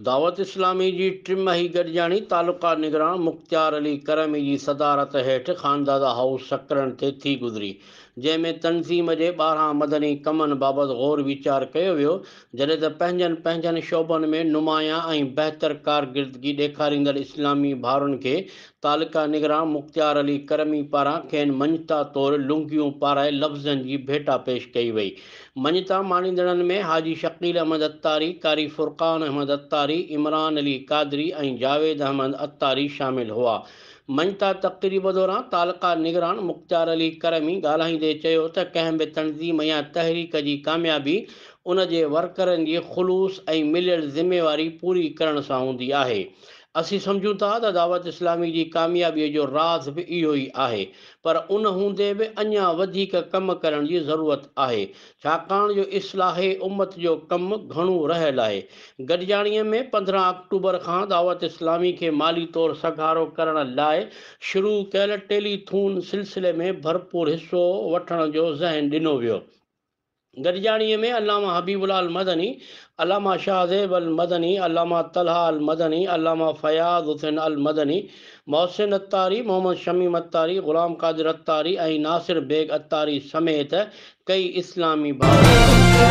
دعوت اسلامي جي ٽماهي گڏجاڻي تعلقه نگران مختيار علي ڪرمي جي صدارت هيٺ خاندادا هائوس سڪرنڊ تي ٿي گذري. جنهن ۾ تنظيم جي ٻاهران مدني ڪمن بابت غور ويچار ڪيو ويو، جڏهن ته پنهنجن پنهنجن شعبن ۾ نمايان ۽ بهتر ڪارڪردگي ڏيکاريندڙ اسلامي ڀائرن کي تعلقه نگران مختيار علي ڪرمي پاران کين مڃتا طور لنگيون پارائي لفظن جي ڀيٽا پيش ڪئي وئي. مڃتا ماڻيندڙن ۾ حاجي شڪيل احمد عطاري، قاري فرقان احمد عطاري، عمران علي قادري ۽ جاويد احمد عطاري شامل هئا. مڃتا تقريب دوران تعلقه نگران مختيار علي ڪرمي ڳالهائيندي چيو ته ڪنهن به تنظيم يا تحريڪ جي ڪاميابي ان جي ورڪرن جي خلوص ۽ مليل ذميواري پوري ڪرڻ سان هوندي آهي اسين سمجهون ٿا ته دعوت اسلامي جي ڪاميابي جو راز به اهو ئي آهي پر ان هوندي به اڃا وڌيڪ ڪم ڪرڻ جي ضرورت آهي ڇاڪاڻ جو اصلاح امت جو ڪم گهڻو رهيل آهي. گڏجاڻيء ۾ پندرهن آڪٽوبر کان دعوت اسلامي کي مالي طور سگهارو ڪرڻ لاء شروع ڪيل ٽيلي ٿون سلسلي ۾ ڀرپور حصو وٺڻ جو ذهن ڏنو ويو. گڏجاڻيء ۾ علامه حبيب الله المدني، علامه شاهه زيب المدني، علامه طلحه المدني، علامه فياض حسين المدني، محسن عطاري، محمد شميم عطاري، غلام قادر عطاري ۽ ناصر بيگ عطاري سميت ڪئي اسلامي ڀاڱي ڪن ٿيا.